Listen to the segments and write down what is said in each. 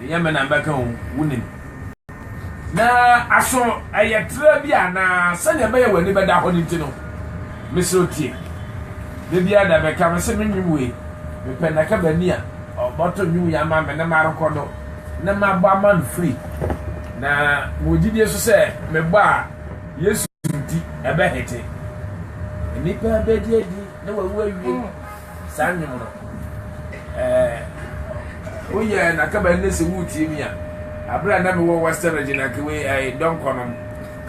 Ɛnyɛ me na mɛka o, wunim. Na aso ɛyɛ tra bi a na sɛnea ɛbɛyɛ w'ani bɛda hɔ no nti no, mesrɛ wo tie. Da biara da bɛka me sɛ me nnwom wei, mepɛ nnaka baani a ɔbɛto nnwom wei ama me na marekɔ do na mabɔ ama no firi. Na mewɔ gyidie nso sɛ mebɔ a, Yesu nti, ɛbɛhete. Nnipa bɛdi adi na wɔawu awie. Saa nnwom no, eh, oh yeah, na kaba ɛnɛ sɛ woretie mi a, abere a na mewɔ Western region anka wei ɛyɛ eh, dɔnkɔnom,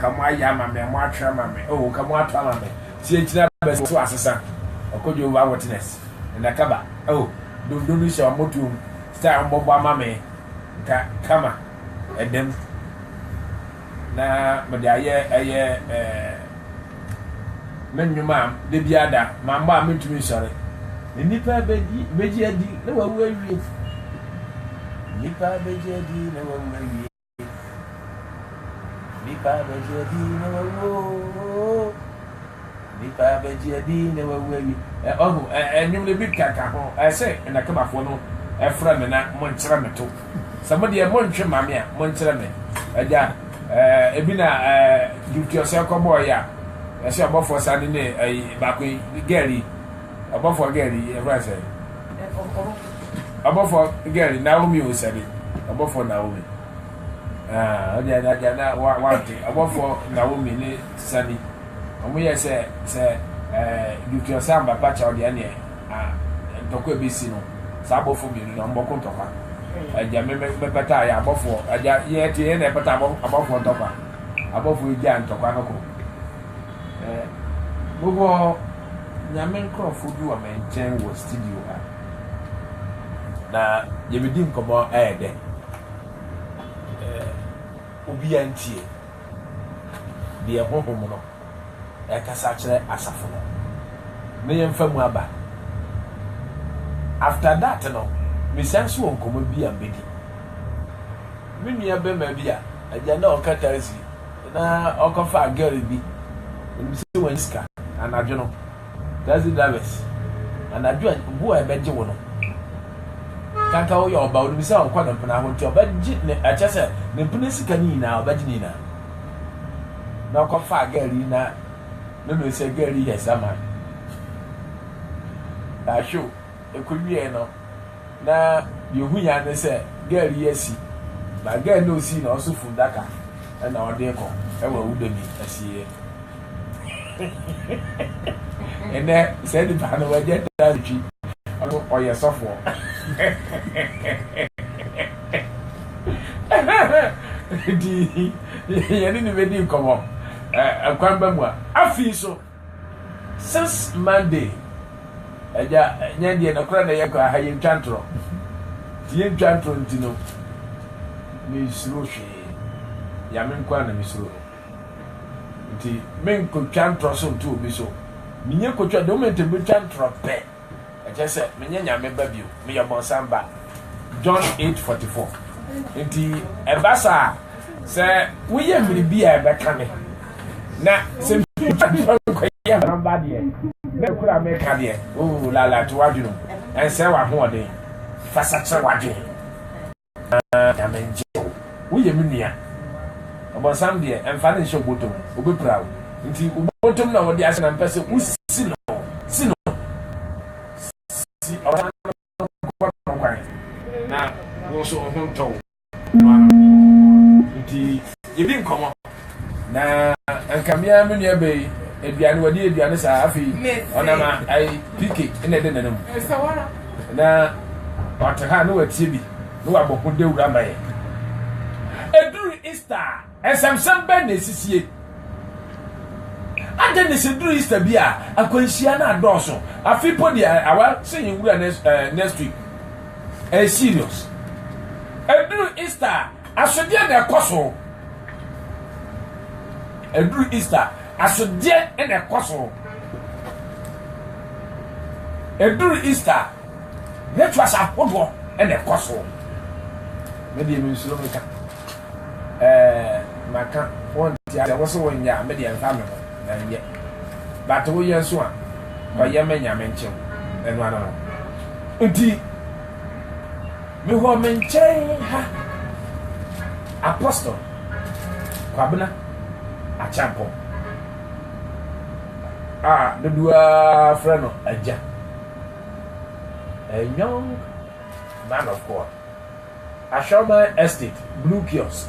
ka mo ayɛ ama me, mo atwe ama me, oh, ka mo ato ama me, tie nkyina bɛsi so asesa, ɔkɔ Jehovah Witness, na kaba, oh, dondon no hyɛ ɔmo tuom, style ɔmo bɔbɔ ama me, nka kama, ɛdɛm. na mede ayɛ ɛyɛ ɛɛ me nnwuma a da biara da mammɔ a mentumi nsɔre. Nnipa bɛdi bɛgye adi na wawu awie. Nnipa bɛgye adi na wawu awie. Nnipa bɛgye adi na wawu oo. Nnipa bɛgye adi na wɔawu awi. Ɛ, ɔho, ɛ, ɛ, nnwom no bi ka, ka ho, ɛ, sɛ, Na Kemafoɔ no frɛ me na monkyerɛ me to. Sɛ mo deɛ montwe mma me a, monkyerɛ me, Agya. Ɛ, ebi na, ɛ, Gyuti Ɔsɛe kɔbɔɔ yɛ a, ɛ, sɛ ɔbɔfoɔ saa ne ne, ɛ, yi, baako yi, girl yi, ɔbɔfoɔ girl yi, yɛfrɛ no sɛn? Ɔbɔfoɔ girl yi, Naomi o, sɛbe, ɔbɔfoɔ Naomi. Ah, ɔdeɛ na, agya, na wa, wante, ɔbɔfoɔ Naomi ne Sani. ɔmo yɛ sɛ sɛ ɛɛ Dutchel sɛ Ambata kyɛw deɛ ɛneɛ a ntɔkwa ɛbɛsi no saa abɔfoɔ mmienu no ɔmo bɔko ntɔkwa ɛgya me me me pɛtaa yɛ abɔfoɔ ɛgya yɛ ɛte yɛ na ɛpɛta abɔ abɔfoɔ ntɔkwa abɔfoɔ ɛgya ntɔkwa no ko ɛɛ bobɔ nyame nkorɔfoɔ bi wɔ me nkyɛn wɔ studio ha na yɛbɛdi nkɔmɔ ɛyɛ dɛ ɛɛ obi antie. deɛ Honhom no rekasa akyerɛ asafo no no yɛmfa mu aba. After that no mesan nso wɔ nkɔmmɔ bi a mɛdi me nua bɛma bi a agya na ɔka taxi na ɔkɔfaa girl bi, menim sɛ wannya sika anadwo no. Taxi drivers, anadwo a bu a ɛbɛgye wo no, kanka woyɛ ɔba wonim sɛ ɔkɔ ne mpena ho nti ɔbɛgye ne ɛkyɛ sɛ ne mpena sika no nyinaa ɔbɛgye ne nyinaa na ɔkɔfa girl yi na ne no sɛ girl yi yɛ sama ahwɛ o ekowiee no na deɛ ohui ara ne sɛ girl yi asi na girl no a osii no nso fundaka na ɔde rekɔ wɔ awuda bi asieɛ. Ɛnɛ saa nipa no wagya da twi ɔno ɔyɛ sɔfoɔ. Nti yɛne ne bɛdi nkɔmmɔ kwan ba mu a afei so. Since Monday agya yɛn deɛ nokorɛ na yɛ kɔ aha yɛn twa ntorɔ nti yɛn twa ntorɔ nti no me suro hwee yame nko a na me suro no nti me nkɔ twa ntorɔ so nto obi so me nyɛ kɔ twa the moment obi twa ntorɔ pɛ Ɛkyerɛ sɛ menyɛ Nyame ba bio, meyɛ bɔnsam ba. John 8:44. Nti ɛba saa a, sɛ woyɛ biribi a ɛbɛka me, na sɛ metwa nkɔyɛ bɔnsam ba deɛ, na ɛkura meka deɛ, oo, lala to w'adwene mu, ɛnsɛe w'ahoɔden, fa sakyera w'adwene. Aah Nyame ngye wo, wo yɛ me nua Ɔbɔnsam deɛ mfa no nhyɛ wo bɔtɔ mu, ɔbɛpira wo Nti wo bɔtɔ mu na ɔde ahyɛ na mpɛ sɛ wo si no Si no, si Ɔbɔnsam no nkɔ no kwan na wo nso wo ho ntɔ wo Noanom nti yɛdi nkɔmmɔ. Na anka me ara me nua bɛyi aduane wɔde yɛ aduane saa afei ɔnam ayi pike na ɛde nana mu na ɔte ha na watie bi na wabɔ ho dawuro ama yɛ ɛduru easter ɛsɛmsɛm bɛn na ɛsisie adɛn ne sɛ duru easter bi a akwanhyia no adɔɔso afei po deɛ awa sɛ yɛwura next week ɛyɛ serious ɛduru easter Asodeɛ na ɛkɔ so. Ɛduru Easter, asodeɛ na ɛkɔ so. Ɛduru Easter, rituals ahodoɔ na ɛkɔ so. Me deɛ mensuro me ka. Ɛɛ maka wɔn ti asɛ wɔsɛ wɔn nyɛ a me deɛ mfa me ho na nyɛ. But woyɛ nso a kɔyɛ mɛ nyame nkyɛn ɛno ano no nti. Mewɔ me nkyɛn ha Apostle Kwabena Akyampong a dodoɔ ara frɛ no agya. A young man of God. Ahwɛman Estate, Blue Kiosk.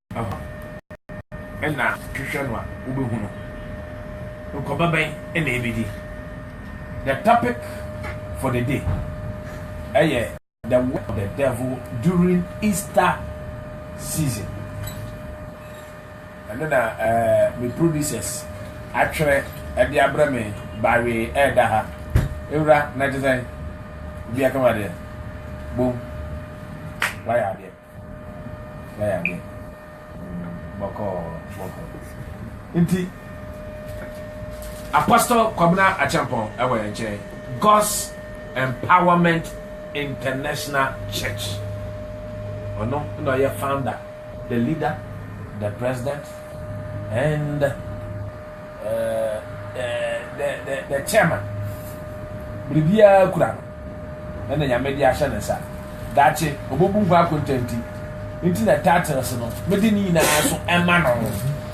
Hɔ na hwehwɛ no a wobɛhu no. Nkwaba bɛn na ɛbɛdi? The topic for the day ɛyɛ the work of the devil during Easter season. Ɛno na eh, me producers atwerɛ ɛde abrɛ me bawee ɛda ha. Ewura na ɛte sɛn? Obi akama deɛ? Bom, wayɛ adeɛ. na yɛade bɔkɔɔ bɔkɔɔ nti apostle kwabena akyɛmpɔn ɛwɔ yɛn nkyɛn god's empowerment international church ɔno na ɔyɛ founder the leader the president and the chairman biribiara kura no ɛna nyame de ahyɛ ne nsa daakye ɔbɛbu nkwa akontanti nti na titles no mede ne nyinaa so ɛma no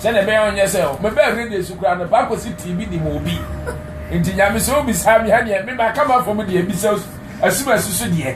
sɛdeɛ ɛbɛyɛ ɔnyɛ sɛ mebɛɛ radio so koraa no paakɔ si tv de ma obi nti nyame sɛ wobisaa me ha deɛ mema ka ma fam deɛ bisa asum asusu deɛ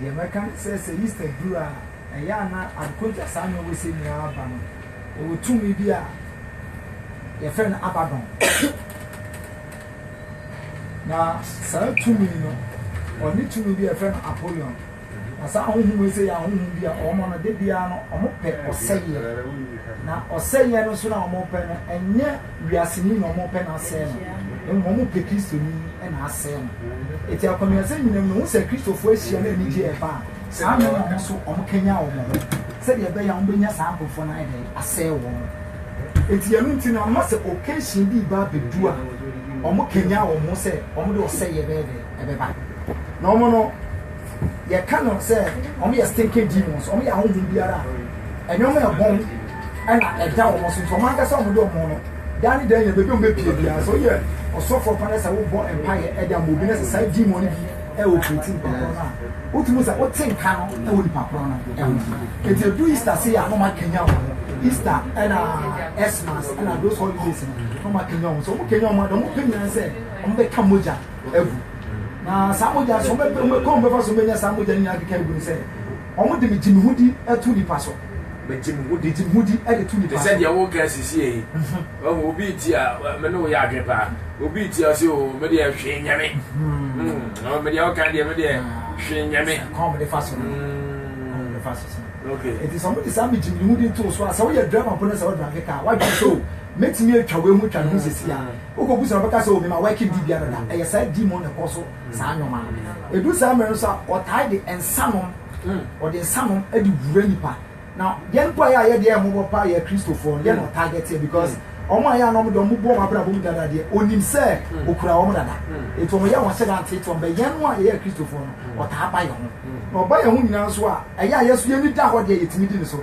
Deɛ mɛka ne sɛ, sɛ Easter duru a, ɛyɛ a na Adekotwa saa na ɔwɔ sɛ nua ba no, ɔwɔ tumi bi a yɛfrɛ no Abaddon. Na saa tumi no, ɔne tumi bi a yɛfrɛ no Apollyon. Na saa ahohom yi sɛ yɛ ahohom bi a wɔn no, da biara no, wɔpɛ ɔsɛeɛ. Na ɔsɛeɛ no nso no a wɔpɛ no, ɛnyɛ Wiaseni na wɔpɛ na asɛe no, na mmom wɔpɛ Kristoni na asɛe no. Enti akwanuasɛm nyinam no, wohu sɛ Kristofo ahyia na anigye reba a, saa mmere no wɔn nso wɔkanyan wɔn ho sɛnea ɛbɛyɛ a wobenya saa nkurɔfo no ayɛ dɛn? asɛe wɔn. Enti ɛno nti no, ama sɛ occasion bi reba abedu a, wɔkanyan wɔn ho sɛ wɔde ɔsɛe bɛyɛ dɛn? ɛbɛba. Na wɔn no, Yɛka no sɛ wɔn yɛ stinking demons, wɔn yɛ ahohom biara a ɛnyɔma ɛbɔn ɛna ɛda wɔn so nti wɔn ankasa wɔn de wɔn no daa ne dan yɛ baabi wɔn bɛpie biara sɛ woyɛ ɔsɔfoɔ pa no sɛ wobɔ mpaeɛ ɛde ama obi no sɛ saa demon no bi ɛwɔ pireti nipa korɔ no a wotumi sɛ wote nka no ɛwɔ nipa korɔ no ɛho ɛti ɛdu Easter se yɛ a na wɔn akanya wɔn ho Easter ɛna Xmas ɛna those holidays no na wɔn akanya wɔn so wɔn kanya wɔn a na wɔn pɛ nyinaa sɛ wɔn bɛka mogya agu Na saa mogya so, wɔbɛpɛ kwan wɔbɛfa so bɛnya saa mogya no nyinaa keka agu no sɛ, wɔde megye me ho di to nipa so. Megye me ho di. Megye me ho di de to nipa so. Te sɛ deɛ woka sisiɛ yi. Ɔhu obi ti a, me ne wo yɛ adwene paa. Obi ti a ɔsɛ o, me deɛ hwee nyɛ me. Ɔwɔ me deɛ woka deɛ me deɛ hwee nyɛ me. Kwan wɔde fa so no. Kwan wɔde fa so no. Okay. Eti sɛ wɔde saa megye me ho di to so a, sɛ woyɛ driver mpo na sɛ wodrave kaa, wadwene sɛ o, mɛtumi atwa wei ho atwa ne ho sisi a. Wokɔ gu sɛ ɔbɛka sɛ o mema working di biara da ɛyɛ saa di mu na ɛkɔ so saa nneɛma no ɛdu saa mmerɛ no so a ɔtae de nsa nom ɔde nsa nom de wura nipa na yɛn mpo a yɛ a yɛde yɛ mmɔbɔ pa yɛ kristofoɔ no yɛ na ɔtae de teɛ because wɔn a yɛ a na wɔn de wɔn bu wɔn abrabɔ mu dada deɛ onim sɛ okura wɔn dada eti wɔn yɛ wɔn hyɛ da nteete wɔn bɛ yɛn a yɛyɛ kristofoɔ no ɔtaa ba yɛn ho na ɔba yɛn ho nyinaa nso a ɛyɛ a yɛ so yɛn ni da hɔ deɛ yɛtumi di ne so.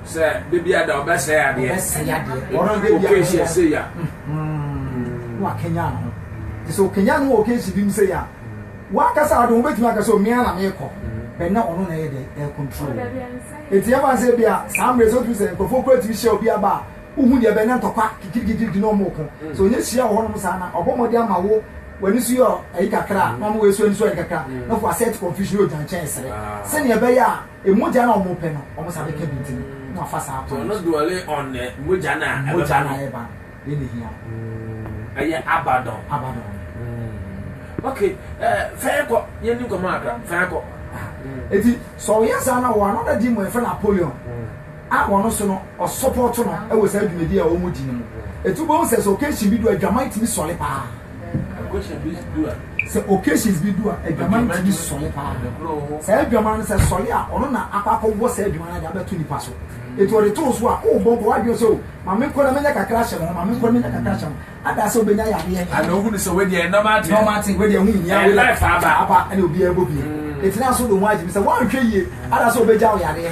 Sɛ da bi ada ɔbɛsɛe adeɛ. Ɔbɛsɛe adeɛ. Ɛdu da bi a ɔbɛsɛe adeɛ. Sei a. Na wakanyan no. Nti sɛ ɔkanyan no wɔ occasion bi mu sei a, wankasa ara de wobɛtumi aka sɛ me ara na meekɔ. But na ɔno na ɛyɛ dɛ? Ɛrecontrol no. Nti yɛmfa no sɛ ebia saa mmerɛ sɛ wotumi sɛ nkurɔfoɔ koraa tumi hyia obi aba a, wohu deɛ ɛbɛyɛ na ntɔkwa kikirikikiriki na wɔreko. Sɛ ɔnya hyia wɔ hɔnom saa na ɔbɔ mmɔden ama wo w'ani so yɛ ayi kakra a, na ɔma wei nso ani so ayɛ kakra na ɔfa asset confusion na ɔgya nkyɛn sere sɛdeɛ ɛbɛyɛ a Mogya no a wɔpɛ no, wɔn nsa bɛka bi nti no, na wafa saa kwan. Tɔnɔ duale on ne mogya no a ɛbɛba no. Mogya no a ɛba no, yɛn na ehia. Ɛyɛ abadɔn. Abadɔn. Ok, fɛn kɔ, yɛn ni nkɔmɔ akra, fɛn kɔ. Eti sɛ ɔyɛ saa na wɔ another di mu ɛfɛ Napoleon a wɔn so no ɔsɔpɔto no ɛwɔ saa dwumadi a wɔn di no mu. Eti wobɛhu sɛ sɛ occasion bi do adwaman tumi sɔre paa. Sɛ occasions bi du a, adwaman no tumi sɔre paa. Saa adwaman no sɛ sɔre a, ɔno na akɔ akɔwɔ saa adwaman no de abɛto nipa so. Eti ɔde too so a, o bɔ nkɔ wadwene sɛ o, maame nkɔ na menya kakra hyɛ me ho, maame nkɔ na menya kakra hyɛ me ho. Ada sɛ obenya yadeɛ. Ana ohu ne sɛ wei deɛ normal thing. Normal thing, wei deɛ ho nhia. Wei life aba. Aba ɛna obiara bɔ bia. Eti na so de ho agye mi sɛ wanhwɛ yie, ada sɛ obegyaw yadeɛ.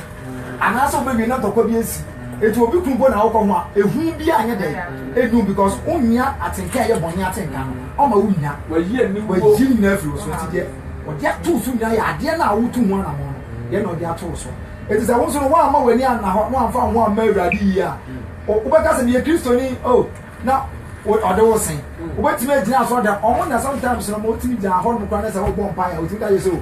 anaasɛ wobɛwie na ntɔkwa bi asi ɛti obi kun mpo na wokɔ ho a ɛhu bi anyɛ dɛn ɛdum because wonnya atenka ɛyɛ bɔne atenka no ɔma wonnya wayi nyina afiri wo so ɛti deɛ ɔde ato so nyina yɛ adeɛ no a wotu ho anamɔ no yɛ na ɔde ato so ɛti sɛ wo nso no woamma w'ani anna hɔ na wamfa ho amma awurade yie a wobɛka sɛ meyɛ kristoni o oh, na ɔde wo sen wobɛtumi agyina so ɔda ɔmo na sometimes no ɔmo tumi gyaa hɔ no kora ne sɛ wobɔ mpaeɛ wotumi ka yɛ sɛ o oh,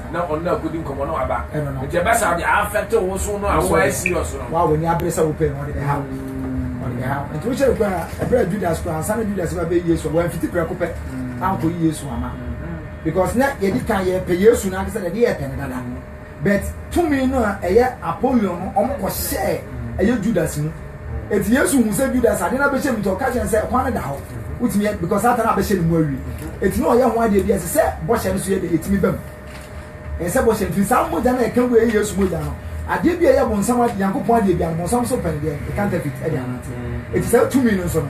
na ɔno na akɔdi nkɔmmɔ na waba nti ɛbɛ saa de afɛte wo so no a woayɛ serious no wa w'ani abere sɛ wopɛ no ɔde bɛha wo mm. ɔde bɛha wo nti wohyɛ no kora ɛberɛ a judas kora ansa na judas ba bɛyi yesu a wɔamfiti prɛko pɛ mm. ankɔyi yesu ama mm-hmm. because na yɛdi kan yɛpɛ yesu no ankasa deɛ yɛpɛ no dada but tumi no a ɛyɛ apolion no ɔmokɔhyɛɛ ɛyɛ judas mu Eti Yesu hu sɛ Judas ade no abɛhyɛ mu nti ɔka kyerɛ no sɛ ɛkwan no da hɔ. Wotumi yɛ because Satan abɛhyɛ ne mu awie. Eti na ɔyɛ ho adeɛ bi ɛsɛ sɛ bɔhyɛ no so yɛ dɛ etumi bam. Ɛsɛ sɛ bɔhyɛ no firi saa mogya no a ɛka gu ɛyɛ Yesu mogya no. Adeɛ bi a ɛyɛ bonsam adeɛ Nyankopɔn adeɛ bi a no bonsam so pɛn deɛ ɛyɛ counterfeit ɛde anante. Eti saa tumi no nso no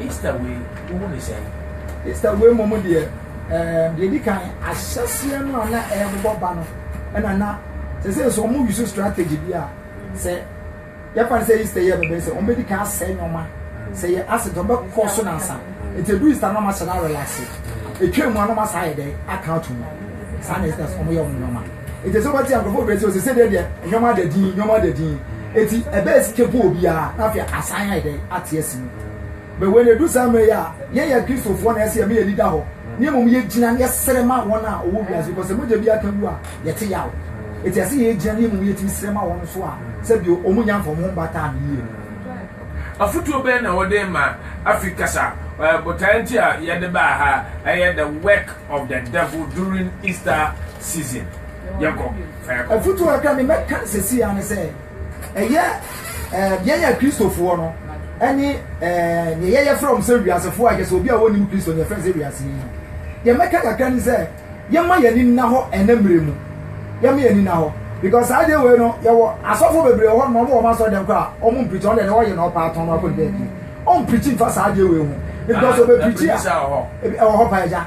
Easter wei wo hu ne sɛn? Easter wei mmom deɛ ɛɛ eh, deɛ di kan ahyɛseɛ no a na ɛrebobɔ ba no ɛna na sɛ sɛ nso wɔn use strategy bi a sɛ yɛfa no sɛ Easter yɛ bɛbɛ sɛ wɔn bɛdi kan asɛe nneɛma sɛ yɛ ase dɔm bɛkɔ so nansa nti edu Easter no wɔn ahyɛ no arelase etwa mu a na wɔn asa ayɛ dɛ aka ato mu saa na Easter wɔn yɛ wɔn nneɛma. Enti ɛsɛ sɛ wɔte nkurɔfoɔ berɛ sɛ ɔsese dɛ deɛ nneɛma ada din nneɛma ada din eti ɛbɛyɛ sika bu obiara na afei asan ayɛ dɛ ate asi mu. Bɛ wei na edu saa mmerɛ yi a yɛn yɛ Kristofoɔ na ɛsɛ yɛ me yɛn ani da hɔ na mmom yɛgyina na yɛsrɛ ma wɔn a wɔwɔ wiase because sɛ mogya bi aka wu a yɛte yaw eti ɛsɛ yɛgyina na mmom yɛtumi srɛ ma wɔn nso a sɛdeɛ wɔn nya nfa wɔn ho mba taa no yie no. Afotuo bɛn na wɔde rema afi kasa botaeɛ nti a yɛde baa ha ɛyɛ the work of the devil during Easter season yɛkɔ fa yɛkɔ. afutuo a ɛka ne mɛka no sɛsi ya ne sɛ ɛyɛ eh, yɛn yɛ kristofoɔ no ɛne eh, deɛ yɛyɛ frɛ wɔn sɛ wiasefoɔ a kyɛ sɛ obi a wɔnim kristo ne yɛfrɛ sɛ wiase yi no deɛ mɛka kakra ne sɛ yɛma yɛn ani nna hɔ ɛnɛ mmerɛ mu yɛma yɛn ani nna hɔ because saa deɛ wei no yɛwɔ asɔfo bebree hɔ no wɔn asɔ dɛm koraa wɔn mpirikyi wɔn deɛ deɛ wɔyɛ na ɔpa atɔn no akɔ ne baabi wɔn mpirikyi nfa saa deɛ wei ho because ɔbɛ pirikyi a ɛwɔ hɔ pa agya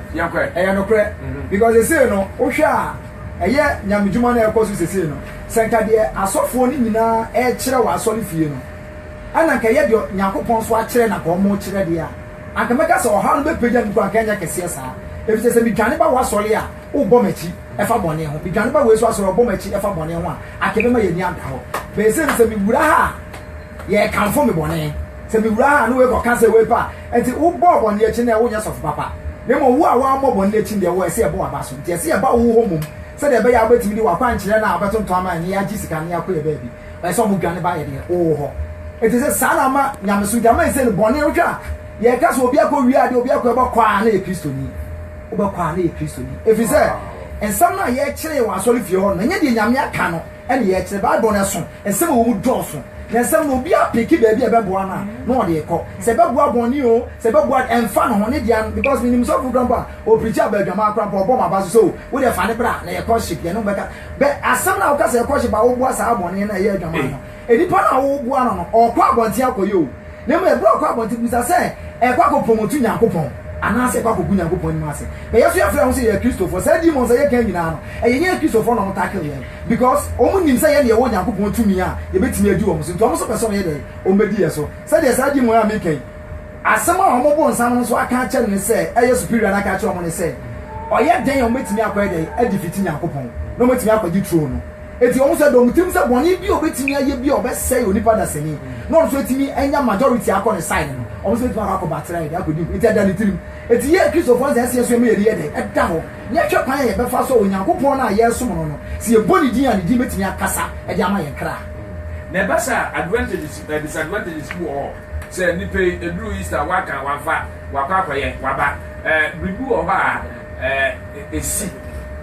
Nokorɛ, ɛyɛ nokorɛ, because sesei no wohwɛ a ɛyɛ nyamedwuma na ɛrekɔ so sesei no, sɛ nka deɛ asɔfoɔ no nyinaa rekyerɛ wɔ asɔre fie no ɛna nka ɛyɛ deɛ Nyankopɔn nso akyerɛ na nka wɔrekyerɛ deɛ a, anka mɛka sɛ ɔhaw no bɛpagya me kɔ anka ɛnyɛ kɛseɛ saa, efisɛ sɛ medwane ba w'asɔre a wobɔ m'akyi ɛfa bɔne ho, medwane ba wei nso asɔre a ɔbɔ m'akyi ɛfa bɔne ho a, anka ɛbɛma yɛn ani ada hɔ, but sesei no sɛ mewura ha a Yɛkamfo me bɔne. Sɛ mewura ha a, na wei kɔka sɛ wei pɛ a, enti wobɔɔ bɔne akyi no ɛ, wonyɛ sɔfo papa. Na mmom wo a woammɔ bɔne akyi no deɛ, wɔ ɛsɛ yɛbɔ w'aba so. Enti ɛsɛ yɛba wo hɔ mmom, sɛdeɛ ɛbɛyɛ a wobɛtumi de w'akwankyerɛ no a wobɛtontɔn ama yɛn, na yɛagye sika, na yɛakɔ yɛn baabi. Ɛsɛ sɛ wɔdwane ba yɛdeɛ, wo hɔ. Enti sɛ saa na ama nyamesom, enti ama ɛsei no bɔne, wohwɛ a, yɛka sɛ obi akɔ wie adeɛ, obi akɔ, wobɛkɔ a na yɛ Kristoni. Wobɛkɔ a na yɛ Kristoni. Ɛfiri sɛ nsɛm no a yɛkyeree wɔ asɔrefie hɔ no, ɛnyɛ deɛ Nyame aka no. ɛne yɛ kyerɛ. Bible no ɛso nsɛm a ɛwɔ mu dɔɔso. Na nsɛm no obi apeke baabi a ɛbɛboa no a na ɔde rekɔ. Sɛ ɛbɛboa bɔne o, sɛ ɛbɛboa de ɛmfa ne ho ne deɛ because menim sɔfo kora mpo a ɔprikyi aba adwaman kora mpo a ɔbɔ m'aba so sɛ o wo deɛ fa ne bra na yɛ courtship yɛne wo bɛka. Bɛ asɛm no a woka sɛ yɛ courtship a woboa saa bɔne no a ɛyɛ adwaman no. Nipa no a woboa no no ɔrekɔ abɔnten akɔyɛ o. Na mmom ɛberɛ a ɔkɔ abɔnten bisa sɛ ɛrekɔ akɔpromote Nyankopɔn anaasɛ ɛrekɔ akɔgu Nyankopɔn anim ase. Na yɛn nso yɛfrɛ yɛn ho sɛ yɛyɛ Kristofoɔ. Saa demons a yɛka nyinaa no, ɛyɛ yɛn Kristofoɔ na wɔtackle yɛn because wɔn nim sɛ yɛn deɛ yɛwɔ Nyankopɔn tumi a yɛbɛtumi adi wɔn so nti wɔn nso pɛ sɛ wɔyɛ dɛn? Wɔbɛdi yɛn so. Sɛdeɛ saa demon a meka yi asɛm a wɔn bonsam no nso aka akyerɛ no ne sɛ ɛyɛ superior no aka akyerɛ wɔn ne sɛ ɔyɛ dɛn a wɔbɛtumi akɔyɛ dɛn adefiti Nyankopɔn na wɔatumi akɔgye throne no. Enti wɔn sɛ dɔ wɔn tirim sɛ bɔne bi a obetumi ayɛ bi a ɔbɛsɛe onipa dasani na ɔno nso atumi anya majority akɔ ne side no, wɔn nso betumi akɔ akɔ batrae de akɔdi mu. Enti ɛda ne tirim. Enti yɛn Kristofo no sɛ ɛsɛ yɛsua ma yɛn ani yɛ dɛn? Ɛda hɔ na yɛhwɛ kwan a yɛbɛfa so a Onyankopɔn no a yɛresom no no, sɛ yɛbɔ ne din a ne din betumi akasa de ama yɛn kra. Na ɛba saa a, advantages and disadvantages bi wɔ hɔ. Sɛ nnipa yi, eduru Easter a, wɔaka, wɔamfa, wɔakɔ akɔyɛ, wɔaba. Ɛɛ, biribi wɔ hɔ a ɛɛ, esi.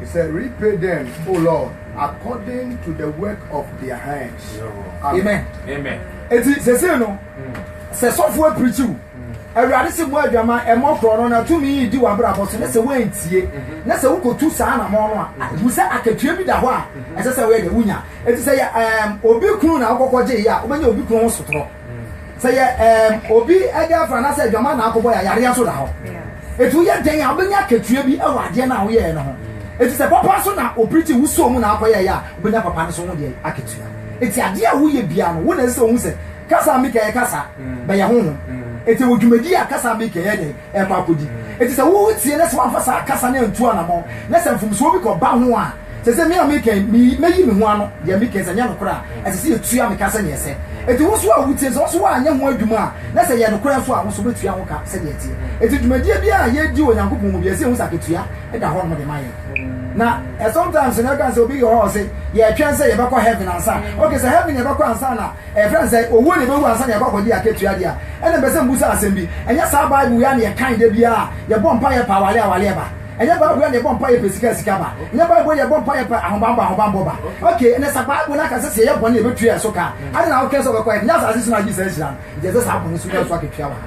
He said, Repay them, O Lord, according to the work of their hands. Amen. Amen. Eti sese no, sɛ sɔfo apirikyiw, awurade si mu adwama ɛmɔ korɔ no na tumi yi di w'abrabɔ so na sɛ woantie na sɛ wokotu saa na mɔ no a ɛhu sɛ akatua bi da hɔ a ɛsɛ sɛ woyɛ dɛ wonya. Eti sɛ yɛ ɛɛm obi kunu na wokɔkɔ gye yɛ a wobɛnya obi kunu ho sotorɔ. Sɛ yɛ ɛɛm obi girlfriend anaasɛ adwaman na akɔbɔ yɛ yareɛ nso da hɔ. Eti woyɛ dɛn a wobɛnya akatua bi wɔ adeɛ no a woyɛɛ no ho. Eti sɛ papa nso na opiriti wo soo mu na akɔyɛɛ yɛ a, wobɛnya papa no nso ho deɛ akatua. Eti adeɛ a woyɛ biara no, wo na ɛsɛ sɛ wohu sɛ kasa a meka yɛ kasa, bɛyɛ honhom. Eti wɔ dwumadie a kasa a meka yɛ dɛn. ɛrekɔ akɔdi. Enti sɛ woretie na sɛ woamfa saa kasa no antu anammɔn, na sɛ mfomsoɔ bi kɔba ho a, sɛ sɛ me a meka yi, me, mɛyi me ho ano, deɛ meka yi, sɛ ɛnyɛ nokorɛ a, ɛsɛ sɛ yɛtua me ka sɛdeɛ ɛsɛ. Enti wo nso a wotie no, sɛ wo nso woanyɛ ho adwuma a, na sɛ ɛyɛ nokorɛ nso a, wo nso wobɛtua ho ka sɛdeɛ ɛteɛ. Enti dwumadie biara a yɛredi wɔ Onyankopɔn mu biara, ɛsɛ sɛ yɛhu sɛ akatua da hɔnom de ma yɛn. Na ɛ, sometimes no, ɛka sɛ, obi wɔ hɔ a ɔse, yɛretwɛn sɛ yɛbɛkɔ heaven ansa. Okay, sɛ heaven na yɛbɛkɔ ansa na Ɛfiri a sɛ owuo na yɛbɛwu ansa na yɛakɔ akɔgye akatua deɛ a, ɛnna mepɛ sɛ mebisa asɛm bi. Ɛnyɛ saa Bible yi ara na yɛkan da biara a yɛbɔ mpaeɛ pɛ awareɛ a awareɛ ba? Ɛnyɛ Bible yi ara na yɛbɔ mpaeɛ pɛ sika a sika ba? Ɛnyɛ Bible yi ara na yɛbɔ mpaeɛ pɛ ahobammɔ a ahobammɔ ba? Ok, ɛnnɛ sɛ Bible no aka sɛ sɛ yɛyɛ bɔne a yɛbɛtua yɛn so ka a, adɛn na woka sɛ wobɛkɔ heaven? Nyɛ asase so na wogye saa nhyira no. Enti ɛsɛ sɛ saa bɔne no so nya so akatua wɔ ha.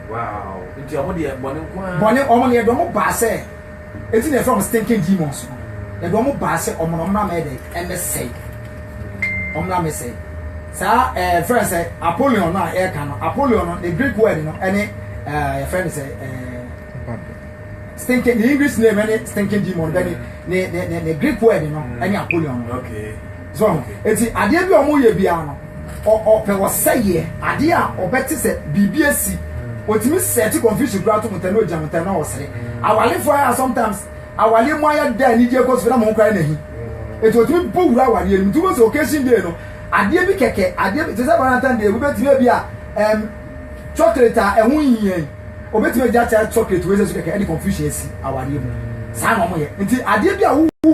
Wow, nti ɔmo deɛ bɔne nko ara. Bɔne, ɔmo no yɛde ɔmo baa sɛ, eti na yɛfrɛ ɔmo stinking demons no. Yɛde ɔmo baa sɛ ɔmo no ɔmo na mɛyɛ dɛ, ɛmɛ sɛe. Ɔmo na mɛ sɛe. Saa ɛɛ eh, fɛn sɛ Apollyon no a yɛka no, Apollyon no ne Greek word no ɛne ɛɛ eh, yɛfrɛ no sɛ ɛɛ. Eh, stinking, the English name ɛne stinking demon, bɛ ne ne ne ne Greek word no ɛne Apollyon no. Okay. So eti adeɛ bi a wɔyɛ biara no ɔpɛ ɔsɛyɛ adeɛ a ɔbɛte sɛ biribi asi otumi sɛɛte confusion koraa to mo tɛ na ogyina mo tɛ na ɔsere awalefo ayɛ sometimes awale mu ayɛ dɛ anigye kɔ so na mo koraa na hi eti otumi bɔ wura awadeɛ no mu tubo sɛ occasion day no adeɛ bi kɛkɛ adeɛ bi te sɛ valentine day wobɛtumi ebi a ɛm chocolate a ɛho nhia yi obɛtumi agya kyɛ chocolate wei sɛ so kɛkɛ ɛde confusion asi awadeɛ mu saa na wɔyɛ nti adeɛ bi a wowu mu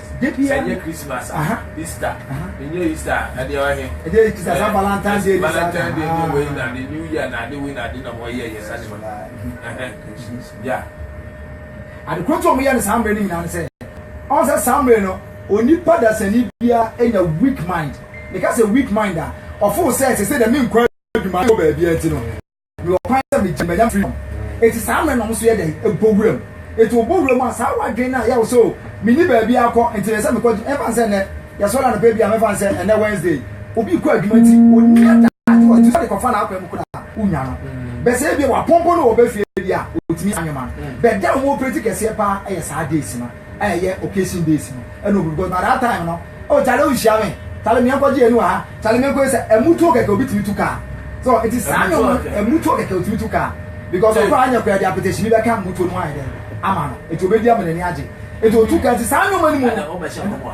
Da biara. Ɛnyɛ Christmas a. Aha. Easter. Aha. Ɛnyɛ Easter a. Ɛdeɛ ɔyɛ he. Ɛdeɛ yɛ Easter saa Valentine's Day. Valentine's Day ne wei na ne New Year na ade wei na ade na wɔn yɛ yɛ saa ne ma. Ya. Adekoro nso wɔn yɛ ne saa mmerɛ ne nyinaa ne sɛ ɔn sɛ saa mmerɛ no onipa dasani biara enya weak mind. Ne ka sɛ weak mind a ɔfo sɛ sese dɛm nkɔ adwuma ne wɔ baabi a ti no. Mewɔ kwan sɛ megye manya freedom. Eti saa mmerɛ na ɔmo nso yɛ dɛn? Bɔ wura mu. Eti wɔbɔ wura mu a, saa wadwene no a yɛwɔ sɛ o, menni baabi akɔ nti ɛsɛ sɛ mekɔ adwuma, ɛmfa no sɛ nnɛ yɛsɔre anɔpa ebi a mɛfa no sɛ ɛnnɛ Wednesday, obi rekɔ adwuma nti onni adagyew a ɔtumi sɔre kɔfa n'akwan mu koraa a, wonnya no. Bɛ sɛ ebia wapɔmpɔ no wɔ bɛ fie bi a, otumi saa nneɛma no. Bɛ da a ɔmo operate kɛseɛ paa yɛ saa days no. a ɛyɛ occasion days no ɛna obi because by that time no oh kyale ohyia me kyale mi ɛnkɔ gye ɛni wɔ ha kyale mi ɛnkɔ ɛsɛ ɛmutuo kɛkɛ obi tumi tu kaa so nti saa nyɛ wɔn ɛmutuo kɛkɛ otumi tu kaa because ɔkɔ anyɛ kɔ ɛdi apetɛhyini bɛ ka mutuo no ayɛ dɛ ama no nti obi di ama n'ani agye nti otu kaa nti saa nyɛ wɔn anim no.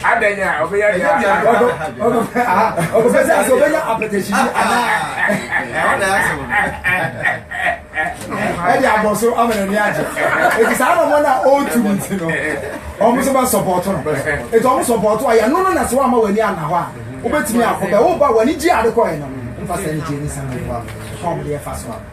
Adɛn a ɔbɛyɛ deɛ ɔbɛpɛ sɛ asɛ ɔbɛyɛ apɛtɛhyini anaa ɛde abɔ so ama n'ani agye ɛti saa nɔmɔ no a ɔretu no nti no ɔmo so bɛsɔpɔɔto no ɛti ɔmo sɔpɔɔto a yɛno no na sɛ woama w'ani anna hɔ a wobɛtumi akɔ bɛ woba w'ani gye ade kɔɛ no mfa sɛ ne gye ne sɛ ne fa ɔmo deɛ fa so a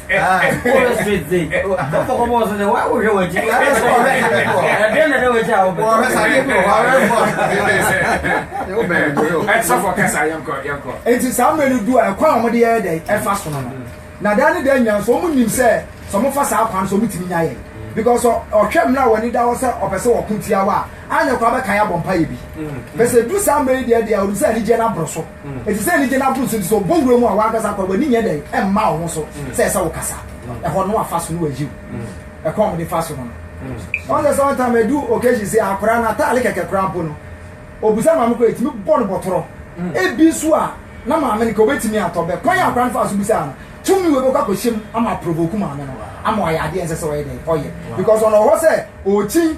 nti saa mmerɛ no du a ɛkwan a wɔde yɛyɛ dɛ ɛfa so no no na daa ne daa nyinaa nso wɔn nim sɛ sɛ wɔfa saa kwan so wɔn tumi nya yɛ because ɔhwɛ mmerɛ a wɔn ani da hɔ sɛ ɔpɛ sɛ wɔko tia wa a anyɛ kɔ abɛka yɛ abɔ mpa yɛ bi bɛsɛ du saa mmerɛ yi deɛ deɛ ɔnim sɛ anigyeɛ no aboro so. Ɛte sɛ anigye no aboro so nti, sɛ ɔbɔ wura mu a w'ankasa koraa w'ani nyɛ dɛn mma wo ho so sɛ ɛsɛ wokasa. Ɛhɔ no wafa so no wayi wo. Ɛkwan a wɔde fa so no no. Ɔn sɛ sometime ɛdu occasion sei a akwadaa no ataade kɛkɛ koraa mpo no ɔbisa maame kɔ ɛtumi bɔ no bɔtorɔ. Ebi nso a na maame no ka ɔbɛtumi atɔ bɛ. Kwan a akwadaa no faa so bisaa no tumi wei bɛkɔ akɔhyɛ mu ama aprovoke maame no ama wayɛ adeɛ a ɛnsɛ sɛ ɔyɛ dɛn ɔyɛ because ɔno ɔwɔ hɔ sɛ ɔrekyin.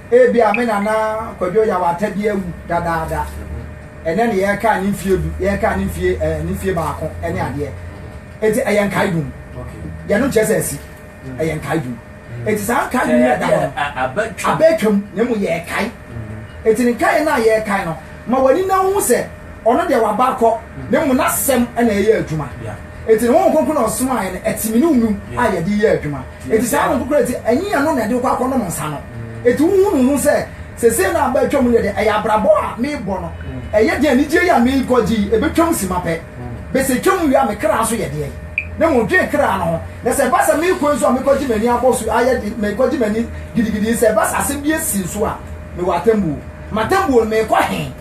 Ebia me nana Kwadwo Yawata bi awu dadaada. Ɛnɛ ne yɛka ne mfie du, yɛka ne mfie ɛɛ eh, ne mfie baako ɛne mm. adeɛ. Eti ɛyɛ nkae dum. Yɛno nkyerɛ sɛ asi. Mm. Ɛyɛ nkae dum. Mm. Eti saa nkae dum yɛ da hɔ no. Abɛtwam na emu yɛ ɛkae. Eti ne nkae no a yɛ ɛkae no ma wɔn ani na ho sɛ ɔno deɛ waba akɔ na emu n'asɛm ɛna ɛyɛ adwuma. Eti ne ho nkonko na ɔsomaeɛ no ɛtimi ne mu a yɛde yɛ adwuma. Enti saa no nkokorɛ nti, ɛnye yɛn no na ɛde wokɔ akɔnom nsa no. Enti wohunu ho sɛ, sesei no a aba atwam no yɛ dɛ, ɛyɛ abrabɔ a merebɔ no, ɛyɛ dɛ anigyeɛ yi a merekɔgye yi ɛbɛtwam simma pɛ. Bɛ sɛ ɛtwam wie a me kra nso yɛ deɛn? Na mmom dwen kra no ho. Na sɛ ɛba sɛ merekɔ nso a mekɔgye m'ani abɔ so ayɛ de, mekɔgye m'ani gidigidi yi, sɛ ɛba sɛ asɛm bi asi nso a, mewɔ atɛmbuo. M'atɛmbuo no, merekɔ he?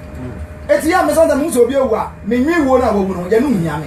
Enti yɛ a mɛsan sɛ mehu sɛ obi awu a, menwen wuo no a wawu no ho, yɛ no nhia me.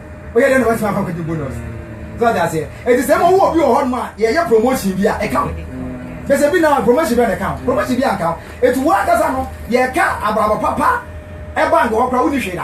woyɛ dɛ na watumi akɔ akɔgye bonus so ɔde aseɛ ɛti sɛ ma wowɔ obi wɔ hɔ nom a yɛyɛ promotion bi a ɛka ho bɛsɛ bi na promotion bɛ na ɛka ho promotion bi anka ho ɛti wo ankasa no yɛka abrabɔ papa ɛba nkɔ hɔ koraa wonni hwee da